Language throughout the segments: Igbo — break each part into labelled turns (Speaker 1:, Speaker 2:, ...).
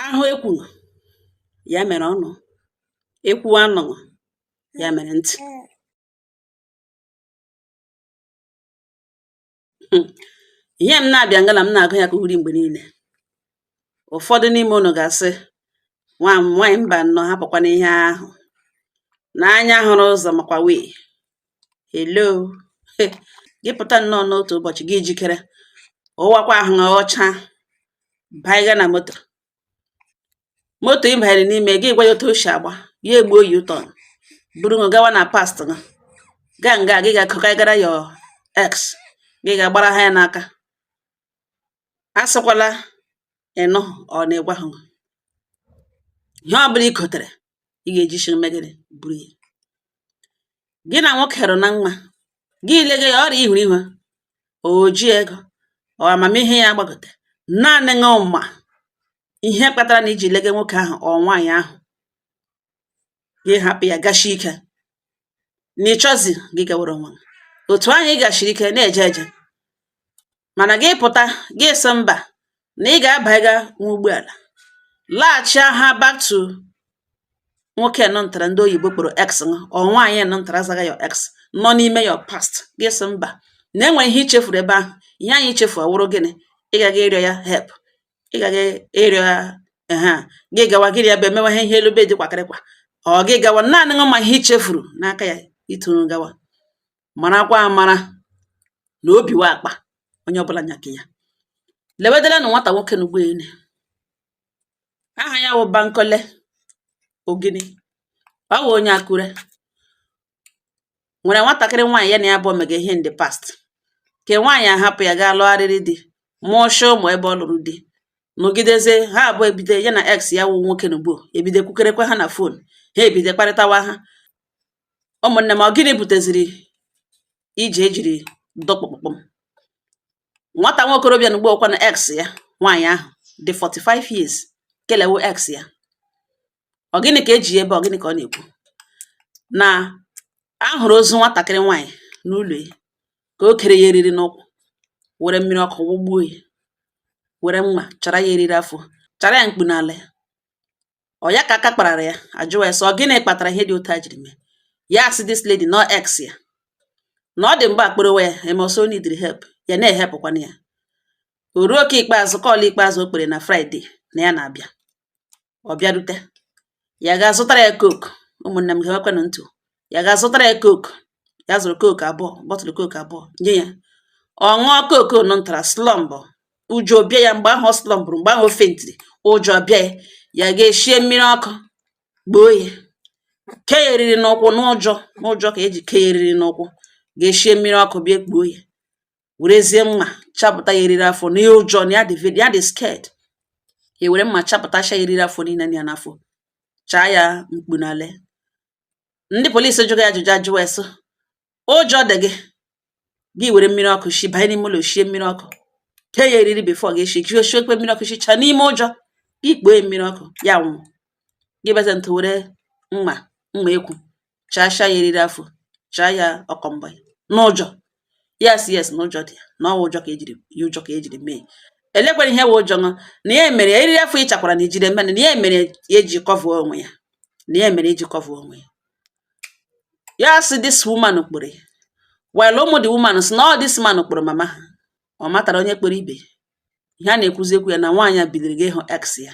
Speaker 1: ahụ ekwughị ya mere ọnụ ekwuo anụghị ya mere ntị hmm. ihe m na-abịa ngala m na-agụ ya ka uri mgbe niile ụfọdụ n'ime unu ga-asị nwa m nwaanyị mba nnọọ hapụkwana ihe ahụ n'anya hụrụ ụzọ makwa wee hello gị pụta nnọọ n'otu ụbọchị gị jikere wụakwa ahụ ọcha baiga na moto moto ị banyere n'ime gị gwa ya otu o si agba ya egbuo u-turn buru ṅụ gawa na past gị gaa nga gị ga-akọkaigara your ex gị ga-agbara ha ya n'aka asịkwala ịnụ ọ na-egwa ha ihe ọ bụla i kotere ị ga-eji ishi mee gịnị buru ya gị na nwoke hụrụ na mma gị lege ya ọrịa ihuru ihu oji ego ọ amamihe ya gbagote naanị ṅụ ma ihe kpatara na iji lege nwoke ahụ ọ nwaanyị ahụ gị hapụ ya gashi ike na ịchọzi gị gawere onwe otu ahụ ị gashiri ike na-eje eje mana gị pụta gị sị mba na ị ga-abaiga nwa ụgbọala laghachi ha back to nwoke nọ ntara ndị oyibo kpọrọ ex ọ nwaanyị nọ ntara azaga your ex nọ n'ime your past gị sị mba na enwe ihe ichefuru ebe ahụ ihe ahụ ichefuru wụrụ gịnị ị gaghị ịrịọ ya help ị gaghị ịrịọ ya ha gị gawa gịrị ya bụ emewe ihe ihe elube dị kwakịrịkwa ọ gị gawa naanị ṅụ ma ihe ichefuru n'aka ya ituru gawa marakwa amara na obi wụ akpa onye ọbụla nya nke ya lewedelanụ nwata nwoke n'ugbo ele aha ya wụ bankole oginni ọ wụ onye akure nwere nwatakịrị nwaanyị ya na ya bụ emega ihe in the past ke nwaanyị ahapụ ya gaa lụgharịrị di mụọcha ụmụ ebe ọ lụrụ di nọgidezie ha abụọ ebido ya na ex ya wụ nwoke na ugbo ebido kwukọrịkwa ha na fon ha ebido kparịtawa ha Ụmụnne m ọ gịnị buteziri ije ejiri dọkpụkpụm nwata nwa okorobịa na ugbua ọkwanụ ex ya nwaanyị ahụ dị 45 years kelewo ex ya. Ọ gịnị ka eji ya ebe a? Ọ gịnị ka ọ na-ekwu? Na a hụrụ ozu nwatakịrị nwaanyị n'ụlọ ya ka o kere ya eriri n'ụkwụ were mmiri ọkụ wụgbuo ya, were mma chara ya eriri afọ, chara ya mkpu n'ala ya. ọ ya ka aka kparara ya ajụwa ya sị ọ gịnị kpatara ihe dị otu a jiri mee ya asị this lady na ọ ex ya na ọ dị mgbe akpọrọwa ya eme ọsọ needịrị help ya na-ehelpụkwanụ ya o ruo nke ikpeazụ call ikpeazụ ọ kpọrọ na fraịde na ya na-abịa ọ bịarute ya ga zụtara ya coke ụmụnne m gewekwanụ ntị ya gaa zụtara ya coke ya zụrụ coke abụọ bottle coke abụọ nye ya ọ ṅụọ coke nọ ntara slọmbụ ụjọ bịa ya mgbe ahụ ọ slọmbụrụ mgbe ahụ o fentiri ụjọ bịa ya ya gaa shie mmiri ọkụ kpoo ya kee ya eriri n'ụkwụ n'ụjọ n'ụjọ ka o ji kee ya eriri n'ụkwụ gaa shie mmiri ọkụ bịa kpoo ya werezie mma chapụta ya eriri afọ na ya ụjọ na ya dị ya dị scared ya were mma chapụtacha ya eriri afọ niile ya n'afọ chaa ya mkpu n'ale ndị polisi jụrụ ya ajụjụ ajụ wee sị ụjọ dị gị gị were mmiri ọkụ shi banye n'ime ụlọ shie mmiri ọkụ kee ya eriri before gị eshikwe mmiri ọkụ shicha n'ime ụjọ gị kpoo ya mmiri ọkụ ya nwụ gị beze ntụ were mma mma ekwu chacha ya eriri afọ chaa ya ọkọmbọ n'ụjọ yes yes na ụjọ dị na ọ wụ ụjọ ka e jiri mee elekwere ihe wụ ụjọ na ya mere ya eriri afọ ịchakwara na ijide mmadụ na ya mere ya eji kọvuo onwe ya na ya mere eji kọvuo onwe ya ya sị this woman kpọrọ ya while ụmụ the woman sị na ọ this man kpọrọ mama ha ọ matara onye kpọrọ ibe ihe a na-ekwuzi ekwu ya na nwaanyị a biliri ga ịhụ ex ya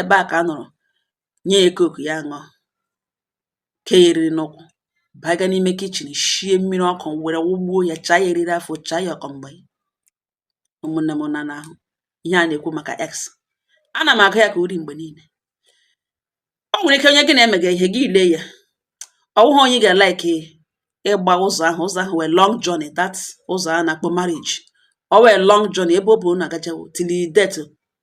Speaker 1: ebe a ka a nọrọ nye ya coke ya ṅụọ kee ya eriri n'ụkwụ baga n'ime kitchen shie mmiri ọkụ were wụgbuo ya chaa ya eriri afọ chaa ya ọkọmgbe ụmụnne m na n'ahụ ihe a na-ekwu maka ex ana m agụ ya ka uri mgbe niile o nwere ike onye gị na-emega ihe gị ile ya ọ wụghị onye ga-like ịgba ụzọ ahụ ụzọ ahụ wụ a long journey that ụzọ a na-akpọ marriage ọ wụ a long journey ebe ọ bụ na agajawo till death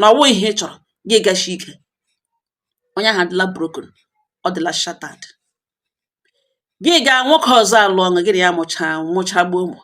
Speaker 1: na ọ wụ ihe ị chọrọ gị gashi ike onye ahụ adịla broken ọ dịla shattered gị gaa nwoke ọzọ alụọ ṅụ gị na ya mụchagbuo ụmụ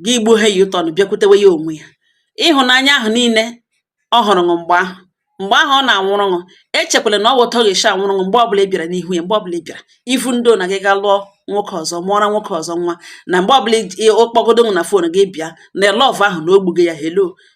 Speaker 1: gị gbuo ha yi ụtọ na bịakwutewe ya onwe ya ịhụnanya ahụ niile ọ hụrụ ṅụ mgbe ahụ mgbe ahụ ọ na-anwụrụ ṅụ echekwala na ọ wụ otu ọ ga-esi anwụrụ ṅụ mgbe ọbụla ị bịara n'ihu ya mgbe ọbụla ị bịara ifu ndị na gị ga lụọ nwoke ọzọ mụọra nwoke ọzọ nwa na mgbe ọbụla ọ kpọgodo na phone gị bịa na love ahụ na o gbugo ya hello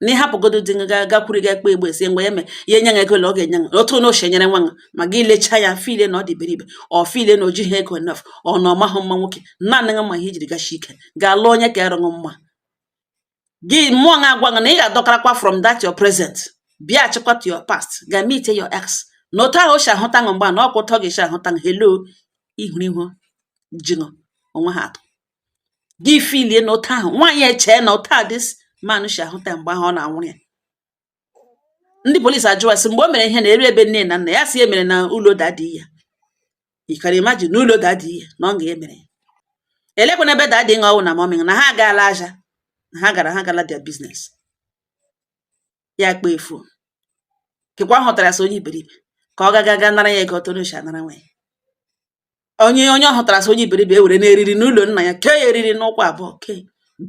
Speaker 1: na ị hapụgodo di gị gaa gakwuru gị ekpe igbe sie ngwa ya me ya enye gị ego ole ọ ga-enye gị otu na oche nyere nwa gị ma gị lechaa ya filie na ọ dị iberibe ọ filie na o jighị ego enough ọ na ọ mahụ mma nwoke naanị gị ma ihe i jiri gashi ike gaa lụọ onye kaara ṅụ mma gị mmụọ gị agwa gị na ị ga-adọkarakwa from that your present bịachikwa to your past ga meet your ex na otu ahụ o si ahụta gị mgbe a na ọ kwa otu ọ ga-esi ahụta gị hello ihuru ihu ji ṅụ onwe ha atọ gị filie na otu ahụ nwaanyị echee na otu a this man si ahụta mgbe ahụ ọ na-anwụrụ ya ndị polisi ajụwa sị mgbe o mere ihe na eri ebe nne na nna ya si emere na ụlọ daddy ya you can imagine na ụlọ daddy ya na ọ ga emere ya elekwana ebe daddy ṅụ ọ wụ na mummy na ha agaala aja na ha gara ha gala their business ya kpa efu kekwa hụtara sị onye iberibe ka ọ gaga ga nara ya ego ọtọ n'ochi anara nwa ya onye onye ọ hụtara as onye iberibe ewere n'eriri n'ụlọ nna ya kee ya eriri n'ụkwụ abụọ kee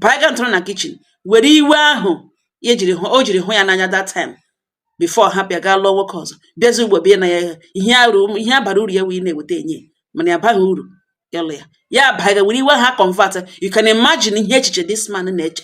Speaker 1: baiga ntụrụ na kitchen were iwe ahụ ya jiri hụ o jiri hụ ya n'anya that time before hapụ ya gaa lụọ nwoke ọzọ bịazi ugbo bie na ya ihe arụ ihe bara uru ya wee na-eweta enye mana ya abaghị uru ịlụ ya ya baiga were iwe ahụ convert you can imagine ihe echiche this man na-eche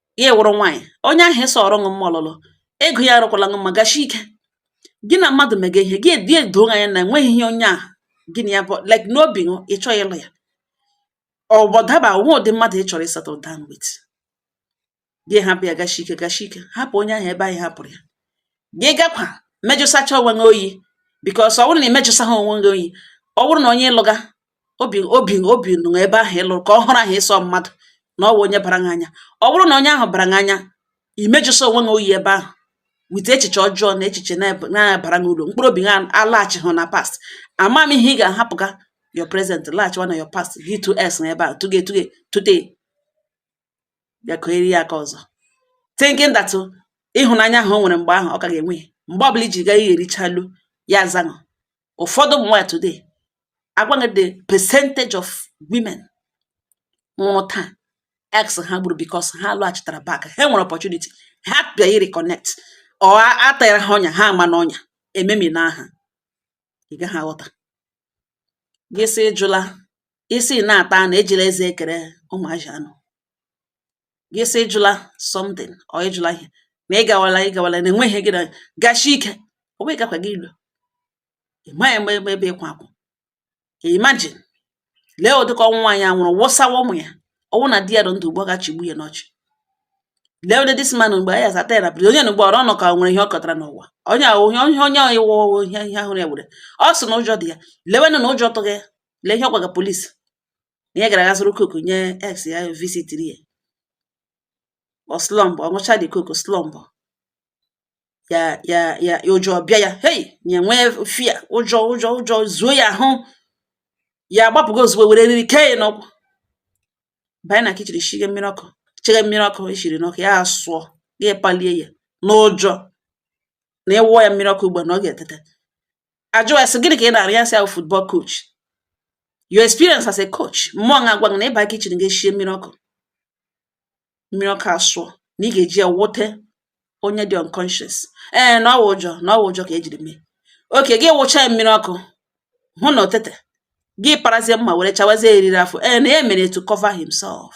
Speaker 1: ya wụrụ nwaanyị onye ahụ ịsọ ọrụ ṅụ mma ọlụlụ ego ya arụkwala ṅụ mma gashi ike gị na mmadụ mega ihe gị edoo anya na o nweghị ihe onye ahụ gị na ya bụ like n'obi ṅụ ị chọghị ịlụ ya ọgbọdaba nwa ụdị mmadụ ị chọrọ ịsettle down with gị hapụ ya gashi ike gashi ike hapụ onye ahụ ebe ahụ ị hapụrụ ya gị gakwa mejụsacha onwe gị oyi because ọ bụrụ na ị mejụsaghị onwe gị oyi ọ bụrụ na onye ị lụga obi obi obi nọ ebe ahụ ị lụrụ ka ọhụrụ ahụ ịsọ mmadụ na ọ wụ onye bara gị anya ọ bụrụ na onye ahụ bara gị anya imejụsa onwe gị oyi ebe ahụ with echiche ọjọọ na echiche na-abaghị uru mkpụrụ obi gị alaghachi hụ na past ama m ihe ị ga-ahapụga your present laghachiwa na your past gị tu s n'ebe ahụ tuge tuge tute bịa ka eri ya aka ọzọ thinking that ịhụnanya ahụ o nwere mgbe ahụ ọ ka ga-enwe mgbe ọbụla i ji gaa ihe erichalu ya zanụ ụfọdụ ụmụ nwaanyị today a gwa gị the percentage of women nwụrụ taa ex ha gburu because ha lọghachitara back ha nwere opportunity ha bịa reconnect ọ atara ha ọnya ha ama n'ọnya ememi na aha ị gaghị aghọta gị sị jụla isi na-ata na ejila eze ekere ụmụazị anụ gị sị ị jụla something or ị jụla ihe ma ị gawala ị gawala na enweghị gị na gashi ike ọ wụ gakwa gị ilu ị maghị mgbe ebe ebe ịkwa akwụ imagine lee ụdịka ọnwụ nwaanyị a nwụrụ wụsawa ụmụ ya ọ wụ na di ya dị ndụ ugbo ga-achịgbu ya n'ọchị lee ụdị this man mgbe ya zata ya na biri onye na ugbo ọrụ ọnụ ka ọ nwere ihe ọ kọtara n'ụwa onye ahụ onye onye onye ahụ ịwụ ọwụ ihe ihe ahụ ya were ọ sị na ụjọ dị ya lewenụ na ụjọ tụghị ya lee ihe ọ gwaga police na ya gara aga zụrụ coke nye ex ya visitiri ya ọ slumpụ ọ ṅụcha the coke slumpụ ya ya ya ụjọ bịa ya hei ya nwee fear ụjọ ụjọ ụjọ zuo ya ahụ ya agbapụgo ozugbo were eriri kee ya n'ụkwụ banye na kitchen shige mmiri ọkụ chege mmiri ọkụ e shiri n'ọkụ ya asụọ ya apalie ya n'ụjọ na a wụọ ya mmiri ọkụ ugbu a na ọ ga-etete a jụọ ya sị gịnị ka ị na-arụ ya sị a wụ football coach your experience as a coach mmụọ na-agwa na ị baa kitchen gị eshie mmiri ọkụ mmiri ọkụ asụọ na ị ga-eji ya wụte onye dị unconscious ee na ọ wụ ụjọ na ọ wụ ụjọ ka i jiri mee okay gị wụcha ya mmiri ọkụ hụ na o teteghị parazie mma were chawazie eriri afọ ee na ya mere to cover himself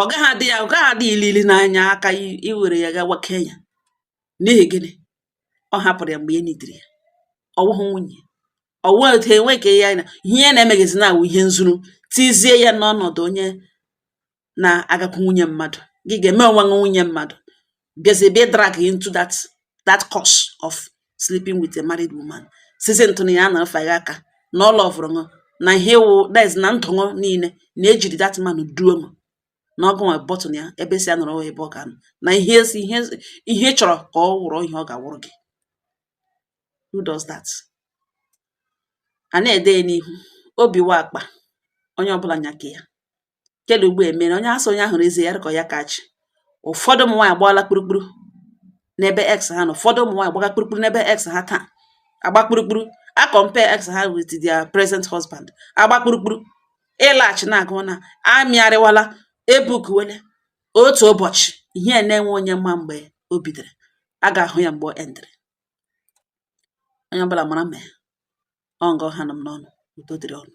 Speaker 1: ọ gaghị adị ya ọ gaghị adị ilili n'anya aka iwere ya gawa Kenya n'ihi gịnị ọ hapụrụ ya mgbe o nidiri ya ọ wụghị nwunye ọ wụghị otu enwe ka ya na ihe ya na-emegezi na-awụ ihe nzuzu tizie ya n'ọnọdụ onye na-agakwu nwunye mmadụ gị ga-eme onwe nwunye mmadụ bịazie be drag into that curse of sleeping with a married woman sizi ntụ na ya na-afa ya aka na ọ lọvụrụ ṅụ na ihe wụ diz na ndụ ṅụ niile na e jiri that man duo ṅụ na ọ gụ nwe button ya ebe ị sị ya nọrọ ebe ọ ga-anọ na ihe si ihe ị chọrọ ka ọ wụrụ ihe ọ ga-awụrụ gị who does that a na-ede ya n'ihu obi wa akpa onye ọbụla nyaka ya kele ugbo e mere onye asị onye ahụrụ eze ya dịka ya kachi ụfọdụ ụmụ nwaanyị agbaala kpurukpuru n'ebe ex ha nọ ụfọdụ ụmụ nwaanyị agbaga kpurukpuru n'ebe ex ha taa agba kpurukpuru a compare ex ha with their present husband agba kpurukpuru ịlaghachi na-agụ na amịarịwala ebukwele otu ụbọchị ihe na-enwe onye mma mgbe o bidoro a ga-ahụ ya mgbe o endịrị onye ọbụla mara mee ya ọ nga ọ ha nọ m n'ọnụ udo dịrị unu